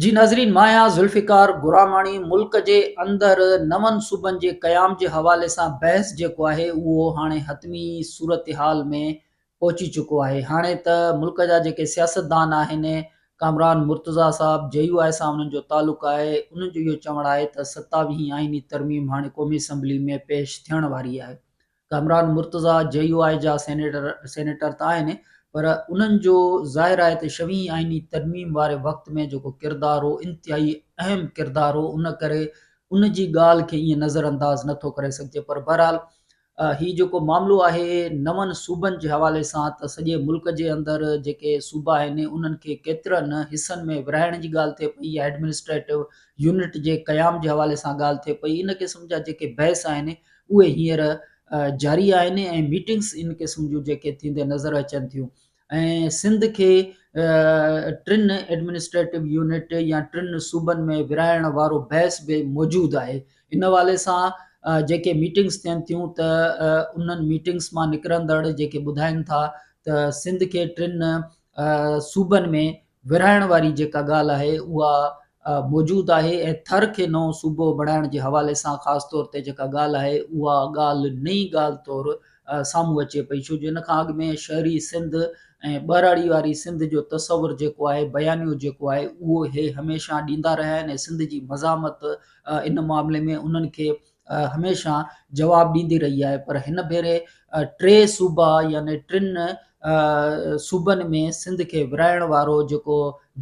جي ناظرين مايا ذوالفقار گراماڻي ملڪ جي اندر نون صوبن جي قيام جي حوالي سان بحث جيڪو آهي اهو هاڻي حتمي صورتحال ۾ پهچي چڪو آهي هاڻي ته ملڪ جا جيڪي سياستدان آهن ڪامران مرتضيٰ صاحب جي يو آء سان انهن جو تعلق آهي انهن جو اهو چوڻ آهي ته ستاويهين آئيني ترميم هاڻي قومي اسيمبلي ۾ پيش ٿيڻ واري آهي ڪامران مرتضيٰ جي يو آء جا سينيٽر سينيٽر ته آهن پر انهن جو ظاهر آهي ته شوين آئيني ترميم واري وقت ۾ جيڪو ڪردار هو انتهائي اهم ڪردار هو ان ڪري ان جي ڳالهه کي ائين نظر انداز نه ٿو ڪري سگهجي پر بهرحال هي جيڪو معاملو آهي نون صوبن جي حوالي سان ته سڄي ملڪ جي اندر جيڪي صوبا آهن انهن کي ڪيترن حصن ۾ ورهائڻ جي ڳالهه ٿئي پئي يا ايڊمنسٽريٽو يونٽ جي قيام جي حوالي سان ڳالهه ٿئي پئي ان قسم جا جيڪي بحث آهن اهي هينئر جاري آهن ۽ ميٽنگس ان قسم جون جيڪي ٿيندي نظر اچن ٿيون ۽ سنڌ کي ٽن ايڊمنسٽريٽو يونٽ يا ٽن صوبن ۾ ورهائڻ وارو بحث به موجود آهي ان حوالي سان جيڪي ميٽنگس ٿين ٿيون ته انهن ميٽنگس مان نڪرندڙ جيڪي ٻڌائن ٿا ته سنڌ کي ٽن صوبن ۾ ورهائڻ واري جيڪا ڳالهه آهي اها موجود آهي ۽ ٿر کي نئون صوبو بڻائڻ جي حوالي سان خاص طور تي جيڪا ڳالهه آهي اها ڳالهه نئين ڳالهه طور سامهون اچي پئي ڇو جو ان کان اڳ ۾ شهري سنڌ ۽ ٻهراڙي واري سنڌ جو تصور جيڪو آهي بيانيو جيڪو آهي اهو هي هميشه ڏيندا رهيا آهن ۽ سنڌ جي مزاحمت ان معاملي ۾ انهن کي هميشه جواب ڏيندي رهي آهي پر هن ڀيري ٽي صوبا يعني ٽن صوبن ۾ سنڌ کي ورهائڻ وارو جيڪو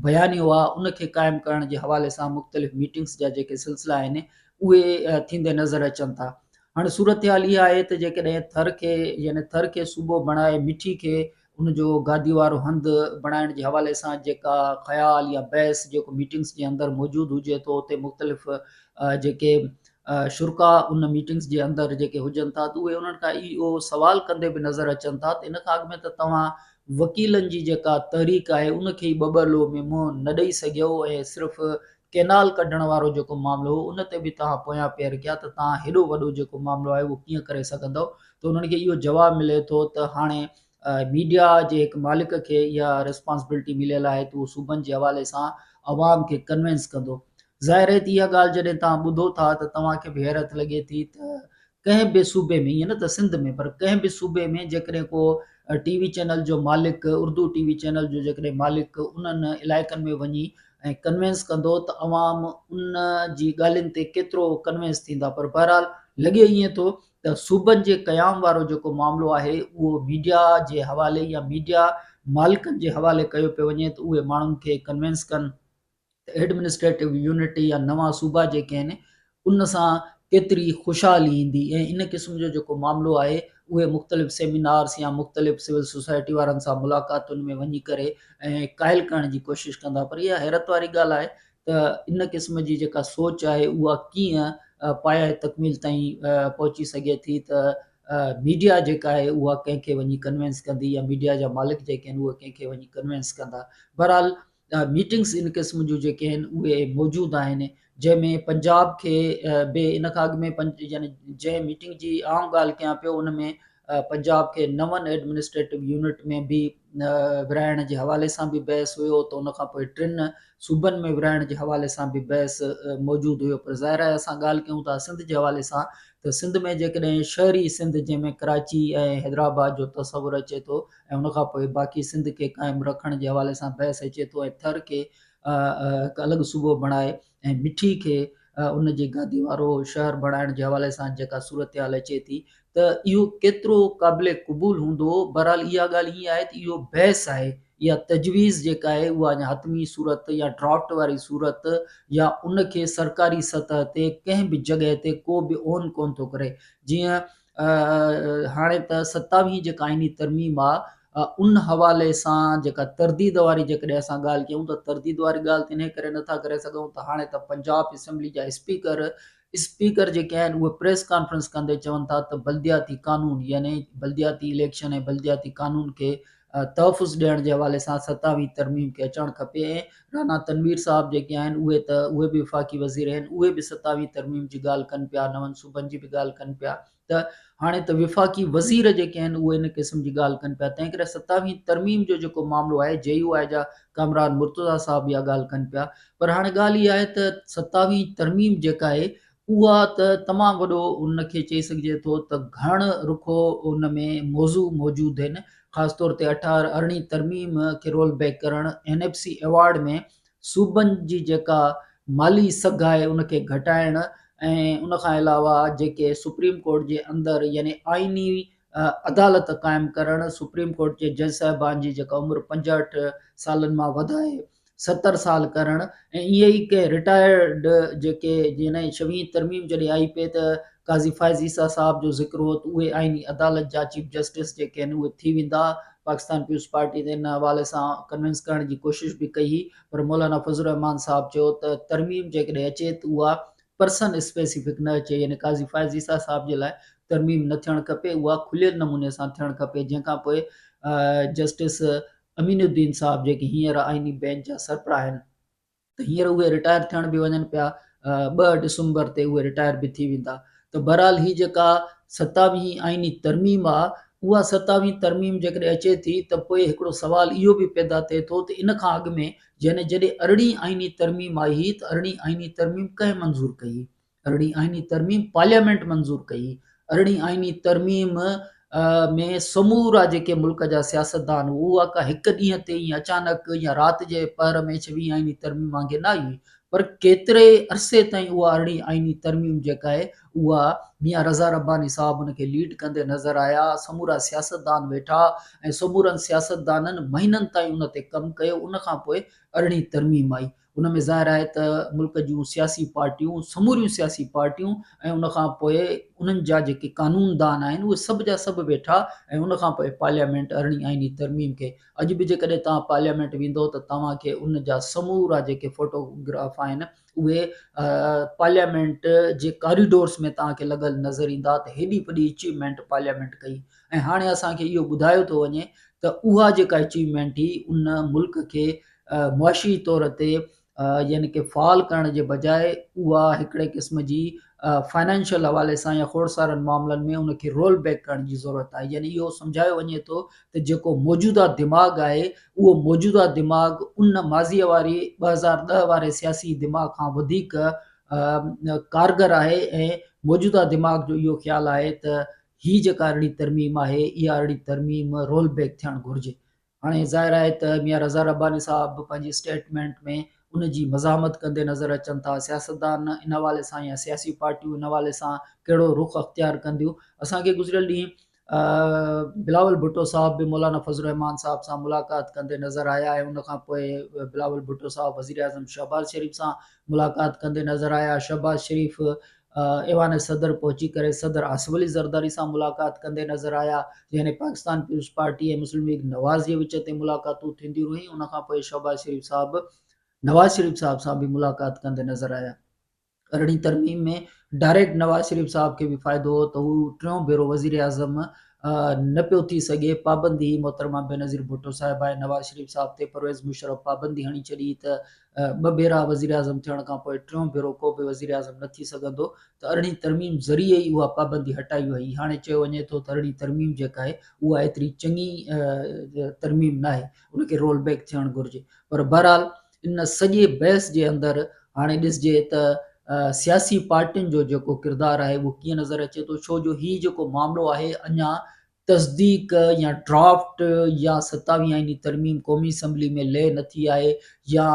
بيانيو آهي ان کي قائم ڪرڻ جي حوالي سان مختلف ميٽنگس جا جيڪي سلسلا آهن اهي ٿيندي نظر اچن ٿا هاڻي صورتحال اها آهي ته جيڪڏهن ٿر کي يعني ٿر کي صوبو بڻائي مٺي کي ان جو گادي وارو هنڌ بڻائڻ جي حوالي سان جيڪا خيال يا بحث جيڪو ميٽنگس جي اندر موجود هجي ٿو اتي مختلف جيڪي شرڪا ان ميٽنگس جي اندر جيڪي هجن ٿا ته اهي انهن کان اهو سوال ڪندي به نظر اچن ٿا ته ان کان اڳ ۾ ته توهان وڪيلن جي جيڪا تحريڪ آهي ان کي ٻه ٻه لو ۾ منهن نه ڏئي سگهيو ۽ صرف ڪينال ڪڍڻ وارو جيڪو معاملو هو ان تي به توهان پويان پير ڪيا ته توهان هيڏو وڏو جيڪو معاملو آهي اهو ڪيئن ڪري سگهندؤ ته انهن کي اهو جواب ملي ٿو ته هاڻي ميڊيا جي هڪ مالڪ کي اها ريسپانسبلٽي مليل آهي ته اهو صوبن جي حوالي سان عوام کي ڪنوينس ڪندو ظاهر رهي ته اها ڳالهه جڏهن تان ٻڌو ٿا ته توهان کي به حيرت لڳي ٿي ته ڪنهن به صوبي ۾ ائين نه ته سنڌ ۾ پر ڪنهن به صوبي ۾ جيڪڏهن ڪو ٽي وي چينل جو مالڪ اردو ٽي وي چينل جو جيڪڏهن مالڪ انهن علائقن ۾ وڃي ۽ ڪنوينس ڪندو ته عوام ان جي ڳالهين تي ڪيترو ڪنوينس ٿيندا پر بهرحال لڳي ائين ٿو ته صوبن جي قيام وارو جيڪو معاملو آهي اهو ميڊيا جي حوالي يا ميڊيا مالڪن جي حوالي ڪيو پيو وڃي ته اهي ماڻهن کي ڪنوينس ڪن ته ايڊمنسٽريٽو يونٽ يا نوان صوبا جيڪي آهن ان سان ڪيتري خوشحالي ايندي ۽ ان قسم جو جيڪو معاملو آهي اهي مختلف سيمينارس يا مختلف سول سوسائٽي وارن سان ملاقاتن ۾ وڃي ڪري ۽ قائل ڪرڻ جي ڪوشش ڪندا پر اها حيرت واري ڳالهه آهي ته ان قسم جي جيڪا سوچ آهي اها ڪيئن پايائي تڪميل تائين پهچي سگهي ٿي ته ميڊيا جيڪا آهي اها ڪنهن کي وڃي ڪنوينس ڪندي يا ميڊيا جا مالڪ جيڪي آهن اهي ڪنهن کي وڃي ڪنوينس ڪندا بهرحال ميٽنگس ان قسم جون جيڪي آهن اهي موجود آهن جنهن ۾ پنجاب کي به ان کان اڳ ۾ يعني جنهن ميٽنگ جي عام ڳالهه ڪيان پيو ان ۾ پنجاب کي نون ايڊمنسٽريٽو يونٽ ۾ به ورهائڻ جي حوالي سان به بحث هيو ته ان کان پوء ٽن صوبن ۾ ورهائڻ جي حوالي سان به بحث موجود هيو پر ظاهر آهي اسان ڳالهه ڪيون ٿا سنڌ جي حوالي سان ته سنڌ ۾ جيڪڏهن شهري سنڌ جنهن ۾ ڪراچي ۽ حيدرآباد جو تصور اچي ٿو ۽ ان کان پوء باقي سنڌ کي قائم رکڻ جي حوالي سان بحث اچي ٿو ۽ ٿر کي هڪ الڳ صوبو بڻائي ۽ مٺي کي ان جي گادي وارو شهر بڻائڻ جي حوالي سان جيڪا صورتحال اچي ٿي ته اهو ڪيترو قابل قبول هوندو بهرحال اها ڳالهه ائين آهي ته اهو بحث آهي يا تجويز جيڪا آهي اها اڃا حتمي صورت يا ڊرافٽ واري صورت يا ان کي سرڪاري سطح تي ڪنهن به جڳهه تي ڪو به اون ڪون ٿو ڪري جيئن هاڻي ته ستاويهين جيڪا آئيني ترميم آ ان حوالي سان جيڪا ترديد واري جيڪڏهن اسان ڳالهه ڪيون ته ترديد واري ڳالهه ته انهي ڪري نٿا ڪري سگهون ته هاڻي ته پنجاب اسيمبلي جا اسپيڪر اسپيڪر جيڪي آهن اهي پريس ڪانفرنس ڪندي چون ٿا ته بلدياتي قانون يعني بلدياتي اليڪشن ۽ بلدياتي قانون کي تحفظ ڏيڻ جي حوالي سان ستاويهين ترميم کي اچڻ کپي ۽ رانا تنوير صاحب جيڪي آهن اهي ته اهي به وفاقي وزير آهن اهي به ستاويهين ترميم جي ڳالهه ڪن پيا نون صوبن جي به ڳالهه ڪن پيا ته هاڻي ته وفاقي وزير جيڪي آهن اهي ان قسم جي ڳالهه ڪن پيا تنهن ڪري ستاويهين ترميم جو جيڪو معاملو آهي جي يو آء جا ڪامران مرتضيٰ صاحب اها ڳالهه ڪن پيا پر هاڻي ڳالهه اها آهي ته ستاويهين ترميم جيڪا آهي اها ته تمام وڏو ان کي چئي سگهجي ٿو ته گهڻ رخو ان ۾ موضوع موجود هن خاص طور تي اٺارهن ارڙهين ترميم کي رول بيڪ ڪرڻ اين ايف سي ايوارڊ ۾ صوبن جي جيڪا مالي سگهه آهي ان کي گهٽائڻ ۽ ان کان علاوه جيڪي سپريم ڪورٽ جي اندر يعني آئيني عدالت قائم ڪرڻ سپريم ڪورٽ جي جج صاحبان جي جيڪا عمر پنجهٺ سالن مان وڌائي ستر سال ڪرڻ ۽ اهي ئي ڪي رٽائرڊ جيڪي جنهن جي ڇويهين ترميم جڏهن آئي پئي ته قاضي فائز عيسيٰ صاحب جو ذڪر هو ته اهي آئيني عدالت جا چيف جسٽس جيڪي آهن اهي ٿي ويندا پاڪستان پيپلز پارٽي تي ان حوالي سان ڪنوينس ڪرڻ جي ڪوشش به ڪئي هئي پر مولانا فضل الرحمان صاحب چيو ته ترميم جيڪڏهن اچي ته اها پرسن اسپيسيفڪ نه اچي يعني قاضي فائز عيسيٰ صاحب جي لاء ترميم نه ٿيڻ کپي اها کليل نموني سان ٿيڻ کپي جنهن کان پوء جسٽس امين الدين صاحب جيڪي هينئر آئيني بينچ جا سربراهه آهن ته هينئر اهي رٽائر ٿيڻ به وڃن پيا ٻه ڊسمبر تي اهي رٽائر به ٿي ويندا ته بهرحال هي جيڪا ستاويهين آئيني ترميم آ اها ستاويهين ترميم جيڪڏهن اچي ٿي ته پوء هڪڙو سوال اهو به پيدا ٿئي ٿو ته ان کان اڳ ۾ يعني جڏهن ارڙهين آئيني ترميم آئي هئي ته ارڙهين آئيني ترميم ڪنهن منظور ڪئي هئي ارڙهين آئيني ترميم پارليامينٽ منظور ڪئي، ارڙهين آئيني ترميم ۾ سمورا جيڪي ملڪ جا سياستدان هئا اها ڪا هڪ ڏينهن تي ائين اچانڪ يا رات جي پهر ۾ ڇويهين آئيني ترميم وانگي نه آئي هئي پر ڪيتري عرصي تائين اها ارڙهين آئيني ترميم جيڪا آهي اها ميان رضا رباني صاحب ان کي ليڊ ڪندي نظر آيا سمورا سياستدان ويٺا ۽ سمورن سياستدانن مهينن تائين ان تي ڪم ڪيو ان کان پوء ارڙهين ترميم آئي ان ۾ ظاهر آهي ته ملڪ جون سياسي پارٽيون سموريون سياسي پارٽيون ۽ ان کان پوء انهن جا جيڪي قانون دان آهن اهي سڀ جا سڀ ويٺا ۽ ان کان پوء پارليامينٽ ارڙهين آئيني ترميم کي اڄ به جيڪڏهن توهان پارليامينٽ ويندو ته توهان کي ان جا سمورا جيڪي فوٽوگراف آهن اهي پارليامينٽ جي ڪاريڊورس ۾ توهان کي لڳل نظر ايندا ته هيڏي وڏي اچيومينٽ پارليامينٽ ڪئي ۽ هاڻي اسان کي اهو ٻڌايو ٿو وڃي ته اها جيڪا اچيومينٽ هي ان ملڪ کي معاشي طور تي يعني ڪي فعال ڪرڻ جي بجاء اها هڪڙي قسم جي فنانشل حوالي سان يا کوڙ سارن معاملن ۾ ان کي رول بيڪ ڪرڻ جي ضرورت آهي يعني اهو سمجهايو وڃي ٿو ته جيڪو موجوده دماغ آهي اهو موجوده دماغ ان ماضي واري ٻه هزار ڏهه واري سياسي دماغ کان وڌيڪ ڪارگر آهي ۽ موجوده دماغ جو اهو خيال آهي ته هي جيڪا اهڙي ترميم آهي اها اهڙي ترميم رول بيڪ ٿيڻ گهرجي هاڻي ظاهر آهي ته ميان رضا رباني صاحب به پنهنجي اسٽيٽمينٽ ۾ ان جي مزاحمت ڪندي نظر اچن ٿا. سياستدان ان حوالي سان يا سياسي پارٽيون ان حوالي سان ڪهڙو رخ اختيار ڪنديون؟ اسان کي گذريل ڏينهن بلاول ڀٽو صاحب به مولانا فضل الرحمان صاحب سان ملاقات ڪندي نظر آيا ۽ ان کان پوء بلاول ڀٽو صاحب وزيراعظم شهباز شريف سان ملاقات ڪندي نظر آيا. شهباز شريف ايوان صدر پهچي ڪري صدر آصف علي زرداري سان ملاقات ڪندي نظر آيا يعني پاڪستان پيپلز پارٽي ۽ مسلم ليگ نواز جي وچ تي ملاقاتون ٿينديون رهيون ان کان پوء شهباز شريف صاحب نواز شريف صاحب سان به ملاقات ڪندي نظر آيا ارڙهين ترميم ۾ ڊائريڪٽ نواز شريف صاحب کي به فائدو هو ته هو ٽيون ڀيرو وزيراعظم نه پيو ٿي سگهي پابندي هي محترمه بينظير ڀٽو صاحب آهي نواز شريف صاحب تي پرويز مشرف پابندي هڻي ڇڏي ته ٻه ڀيرا وزيراعظم ٿيڻ کان پوء ٽيون ڀيرو ڪو به وزيراعظم نه ٿي سگهندو ته ارڙهين ترميم ذريعي ئي اها پابندي هٽائي وئي، هاڻي چيو وڃي ٿو ته ارڙهين ترميم جيڪا آهي اها ايتري چڱي ترميم ناهي ان کي رول بيڪ ٿيڻ گهرجي پر بهرحال ان سڄي بحث جي اندر هاڻي ڏسجي ته سياسي پارٽين جو جيڪو ڪردار آهي اهو ڪيئن نظر اچي ٿو ڇو جو هي جيڪو معاملو آهي اڃا تصديق يا ڊرافٽ يا ستاويهين آئيني ترميم قومي اسيمبلي ۾ لئي نه ٿي آهي يا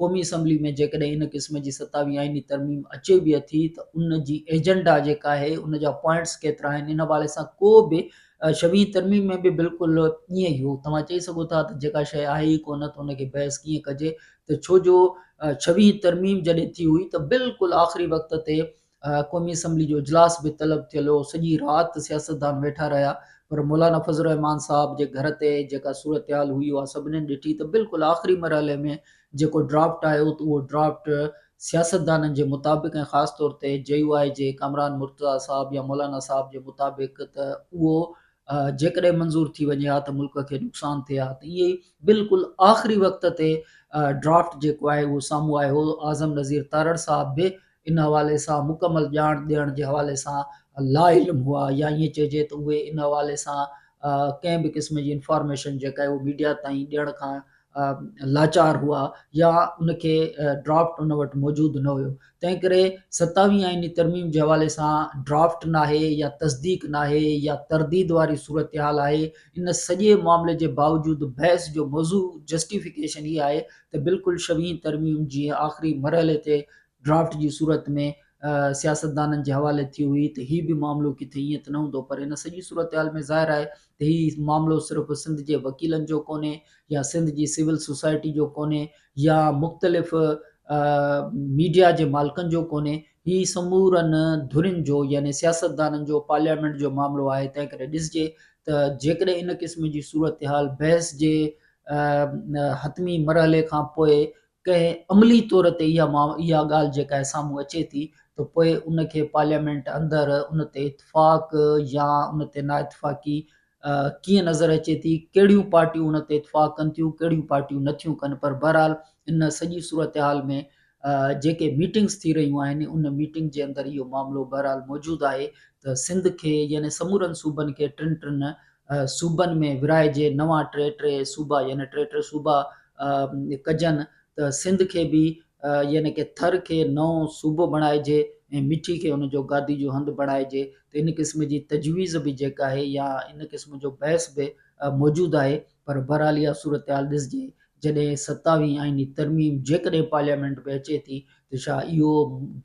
قومي اسيمبلي ۾ جيڪڏهن ان قسم جي ستاويهين آئيني ترميم اچي به اٿي ته ان جي ايجنڊا جيڪا آهي ان جا پوائنٽس ڪيترا آهن ان حوالي سان ڪو به شويهين ترميم ۾ به بلڪل ائين ئي هو توهان چئي سگهو ٿا ته جيڪا شيء آهي ئي ڪونه ته ان کي بحث ڪيئن ڪجي ته ڇو جو شويهين ترميم جڏهن ٿي هئي ته بلڪل آخري وقت تي قومي اسيمبلي جو اجلاس به طلب ٿيل هو، سڄي رات سياستدان ويٺا رهيا پر مولانا فضل الرحمان صاحب جي گهر تي جيڪا صورتحال هئي اها سڀنين ڏٺي ته بلڪل آخري مرحلي ۾ جيڪو ڊرافٽ آيو ته اهو ڊرافٽ سياستدانن جي مطابق ۽ خاص طور تي جي يو آء جي ڪامران مرتضيٰ صاحب يا مولانا صاحب جي مطابق ته اهو جيڪڏهن منظور ٿي وڃي ها ته ملڪ کي نقصان ٿئي ها ته ائين بلڪل آخري وقت تي ڊرافٽ جيڪو آهي اهو سامهون آيو هو اعظم نذير تارڙ صاحب به ان حوالي سان مڪمل ڄاڻ ڏيڻ جي حوالي سان لاعلم هئا يا ائين چئجي ته اهي ان حوالي سان ڪنهن به قسم جي انفارميشن جيڪا اهي ميڊيا تائين ڏيڻ کان لاچار هئا يا ان کي ڊرافٽ ان وٽ موجود نه هيو تنهن ڪري ستاويهين آئيني ترميم جي حوالي سان ڊرافٽ ناهي يا تصديق ناهي يا ترديد واري صورتحال آهي ان سڄي معاملي جي باوجود بحث جو موضوع جسٽيفڪيشن هي آهي ته بلڪل شويهين ترميم جي آخري مرحلي تي ڊرافٽ جي صورت ۾ سياستدانن جي حوالي ٿي هئي ته هي به معاملو ڪٿي ائين ته نه هوندو پر هن سڄي صورتحال ۾ ظاهر آهي ته هي معاملو صرف سنڌ جي وڪيلن جو ڪونهي يا سنڌ جي سول سوسائٽي جو ڪونهي يا مختلف ميڊيا جي مالڪن جو ڪونهي هي سمورن ڌرين جو يعني سياستدانن جو پارليامينٽ جو معاملو آهي تنهن ڪري ڏسجي ته جيڪڏهن ان قسم جي صورتحال بحث جي حتمي مرحلي کان پوء ڪنهن عملي طور تي اها اها ڳالهه جيڪا سامهون اچي ٿي ته پوء ان کي پارليامينٽ اندر ان تي اتفاق يا ان تي نااتفاقي ڪيئن نظر اچي ٿي ڪهڙيون پارٽيون ان تي اتفاق ڪن ٿيون ڪهڙيون پارٽيون نٿيون ڪن پر بهرحال ان سڄي صورتحال ۾ جيڪي ميٽنگس ٿي رهيون آهن ان ميٽنگ جي اندر اهو معاملو بهرحال موجود آهي ته سنڌ کي يعني سمورن صوبن کي ٽن ٽن صوبن ۾ ورهائجي نوان ٽي ٽي صوبا يعني ٽي ٽي صوبا ڪجن ته سنڌ کي به يعني ڪي ٿر کي نئون صوبو بڻائجي ۽ مٺي کي ان جو گادي جو هنڌ بڻائجي ته ان قسم جي تجويز به جيڪا آهي يا ان قسم جو بحث به موجود آهي پر بهرحال اها صورتحال ڏسجي جڏهن ستاويهين آئيني ترميم جيڪڏهن پارليامينٽ ۾ اچي ٿي ته ڇا اهو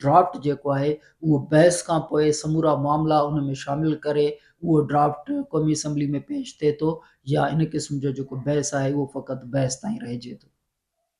ڊرافٽ جيڪو آهي اهو بحث کان پوء سمورا معاملا ان ۾ شامل ڪري اهو ڊرافٽ قومي اسيمبلي ۾ پيش ٿئي ٿو يا ان قسم جو جيڪو بحث آهي اهو فقط بحث تائين رهجي ٿو.